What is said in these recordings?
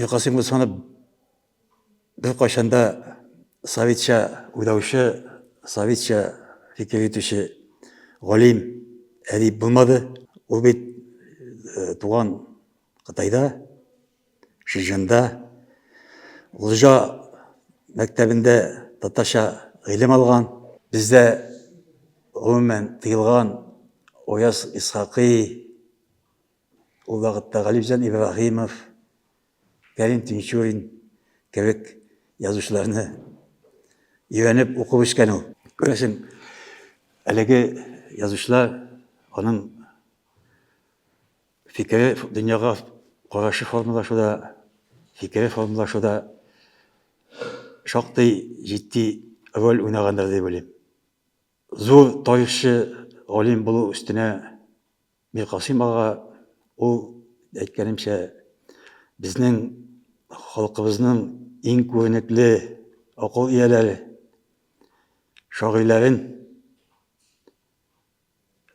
Миркасыйм Госманов беркайчан да советча уйлаучы, советча фикер итүче галим, әдип булмады. Ул бит э, туган Кытайда, Шижанда, Лыжа мәктәбендә татарча гыйлем алган. Бездә гомумән тыелган Ояз Исхакый, Ул вакытта Галимҗан Ибраһимов, Кәрим Тинчурин кебек язучыларны өйрәнеп укып үскән ул. Күрәсең, әлеге язучылар, аның фикере, дөньяга карашы формалашуда, фикере формалашуда шактый җитди роль уйнагандыр дип уйлыйм. Зур тарихчы, галим булу өстенә Миркасыйм ага, ул, әйткәнемчә, безнең халкыбызның иң күренекле акыл ияләре, шагыйләрен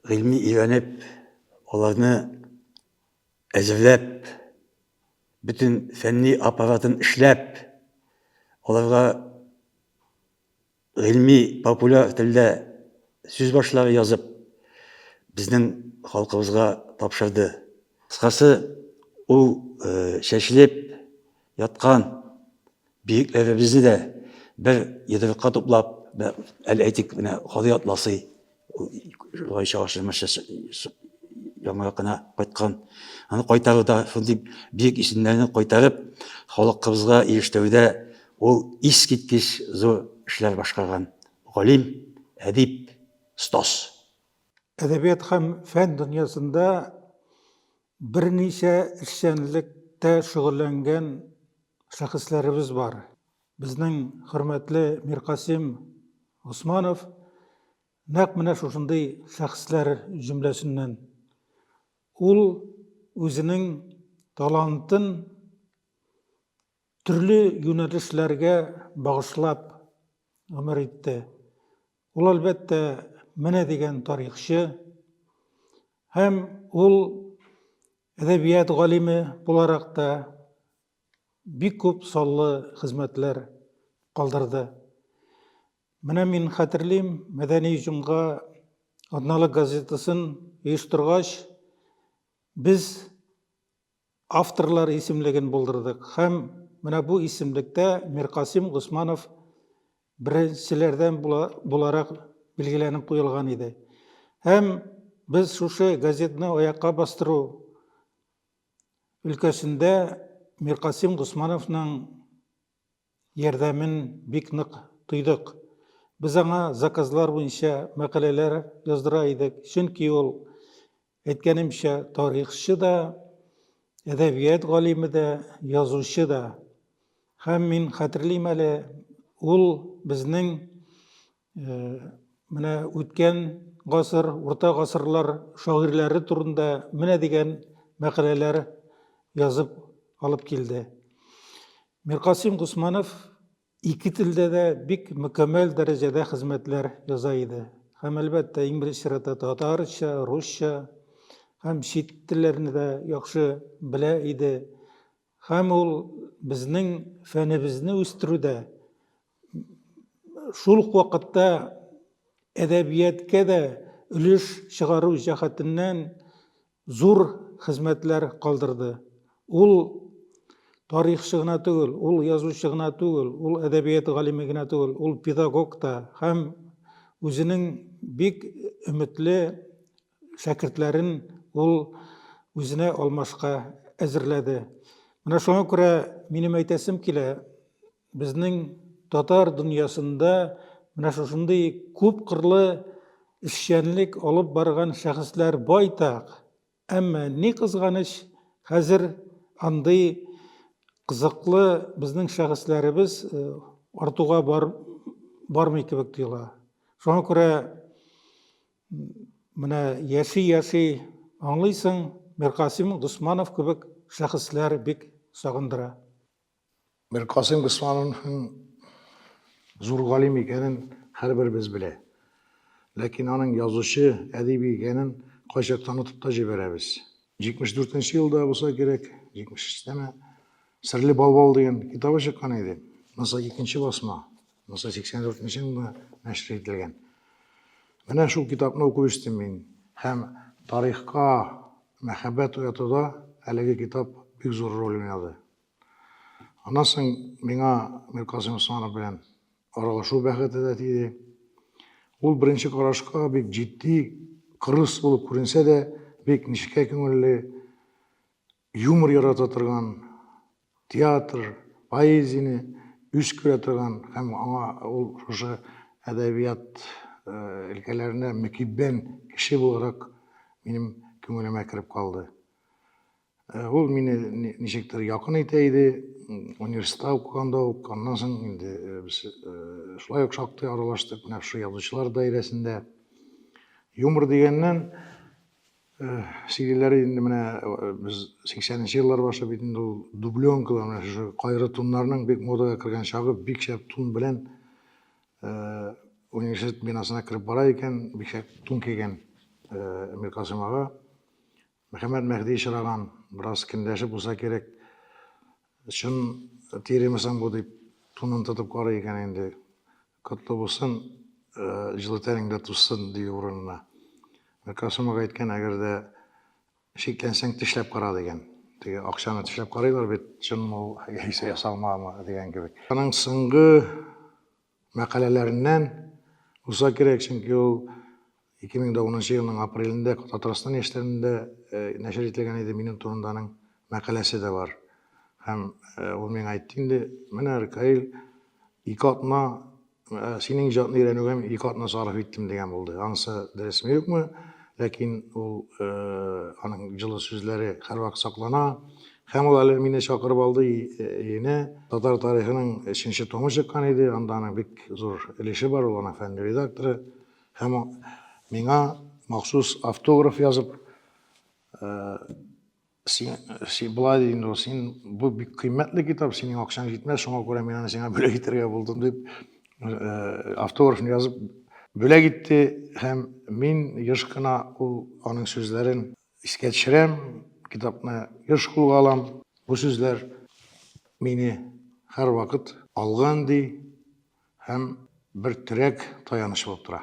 гыйльми өйрәнеп, аларны әзерләп, бөтен фәнни аппаратын эшләп, аларга Гыйльми, популяр телдә сүз башлары язып, безнең халкыбызга тапшырды. Кыскасы, ул чәчелеп яткан биекләребезне дә бер йодрыкка туплап, әл әйтик, менә Кади Атласый Шулай чагышымыш яңа гына кайткан. Аны кайтару да шундый бик исемнәрне кайтарып, халыкыбызга ирештүдә ул искиткеч зур эшләр башкарган. Галим, әдип, стос. Әдәбият һәм фән дөньясында берничә эшчәнлектә шөгыльләнгән шәхесләребез бар. Безнең хөрмәтле Миркасыйм Госманов нәкъ менә шушындый шәхесләр җөмләсеннән. Ул үзенең талантын төрле юнәлешләргә багышлап гомер итте. Ул, әлбәттә, менә дигән тарихчы һәм ул әдәбият галиме буларак та бик күп саллы хезмәтләр калдырды. Менә мин хәтерлим, мәдәни җомга атналык газетасын оештыргач, без авторлар исемлеген булдырдык һәм менә бу исемлектә Миркасим Госманов беренчеләрдән буларак билгеләнеп куелган иде. Һәм без шушы газетны аякка бастыру өлкәсендә Миркасим Госмановның ярдәмен бик нык тойдык. Без аңа заказлар буенча мәкаләләр яздыра идек, чөнки ул, әйткәнемчә, тарихчы да, әдәбият галиме дә, язучы да. Һәм мин хәтерлим әле, ул безнең Э, менә үткән гасыр, урта гасырлар шагыйрьләре турында менә дигән мәкаләләр язып алып килде. Миркасим Гусманов ике телдә дә бик мөкәммәл дәрәҗәдә хезмәтләр яза иде. Һәм әлбәттә, иң беренче чиратта татарча, русча һәм чит телләрне дә яхшы белә иде. Һәм ул безнең фәнебезне үстерүдә, шул ук вакытта әдәбияткә дә өлеш чыгару җәһәтеннән зур хезмәтләр калдырды. Ул тарихчы гына түгел, ул язучы гына түгел, ул әдәбият галиме генә түгел, ул педагог та һәм үзенең бик өметле шәкертләрен ул үзенә алмашка әзерләде. Менә шуңа күрә минем әйтәсем килә, безнең татар дөньясында менә шушындый күп кырлы эшчәнлек алып барган шәхесләр байтак. Әмма ни кызганыч, хәзер андый кызыклы безнең шәхесләребез э, артуга бар, бармый кебек тоела. Шуңа күрә Менә яши-яши аңлыйсың, Миркасыйм Госманов кебек шәхесләр бик сагындыра. Миркасыйм Госмановның зур галим икәнен һәрберебез белә. Ләкин аның язучы, әдиби икәнен кайчакта онытып та җибәрәбез. 74 нче елда булса кирәк, 73 тәме, Серле балбал дигән китабы чыккан иде. Монысы икенче басма. Монысы 84 нче елда нәшер ителгән. Менә шул китапны уку үстем мин. Һәм тарихка мәхәббәт уятуда әлеге китап бик зур роль уйнады. Аннан соң миңа Миркасым Усманов белән аралашу бәхете дә тиде. Ул беренче карашка бик җитди, кырыс булып күренсә дә, бик нечкә күңелле, Юмор ярата торган, театр, поэзияне үз күрә торган һәм аңа ул шушы әдәбият өлкәләренә мөкиббән кеше буларак минем күңелемә кереп калды. Ул мине ничектер якын итә иде, университетта укыганда ук, аннан соң инде без шулай ук шактый аралаштык, менә шушы язучылар даирәсендә. Юмор дигәннән, CD-ләр инде менә без 80 нче еллар башы бит инде ул дубленкалар менә шушы кайры туннарның бик модага кергән чагы бик шәп тун белән университет бинасына кереп бара икән бик шәп тун кигән Миркасым ага Мөхәммәд Мәһди чыраган бераз кендәшеп булса кирәк чын тиремесең бу дип тунын тотып карый икән инде Котлы булсын, җылы тәнеңдә тузсын, дию урынына. Бер Касымов әйткән, әгәр дә шикләнсәң, тешләп кара дигән. Теге акчаны тешләп карыйлар бит, чынмы ул, яисә ясалмамы дигән кебек. Аның соңгы мәкаләләреннән булса кирәк, чөнки ул 2010 елның апрелендә Татарстан яшьләрендә нәшер ителгән иде минем турында аның мәкаләсе дә бар. Һәм ул миңа әйтте инде, менә Ркаил ике атна синең иҗатны өйрәнүгә мин ике атна сарыф иттем дигән булды. Анысы дөресме юкмы? Ләкин ул аның җылы сүзләре һәрвакыт саклана. Һәм ул әле мине чакырып алды өенә. Татар тарихының өченче томы чыккан иде, анда аның бик зур өлеше бар, ул аның фәнни редакторы. Һәм миңа махсус автограф язып, син, син былай ди инде, син бу бик кыйммәтле китап, синең акчаң җитмәс, шуңа күрә мин аны сиңа бүләк итәргә булдым дип, автографны язып бүләк итте һәм мин еш кына ул аның сүзләрен Искә төшерәм, китапны еш кулга алам. Бу сүзләр мине һәрвакыт алган ди һәм бер терәк, таяныч булып тора.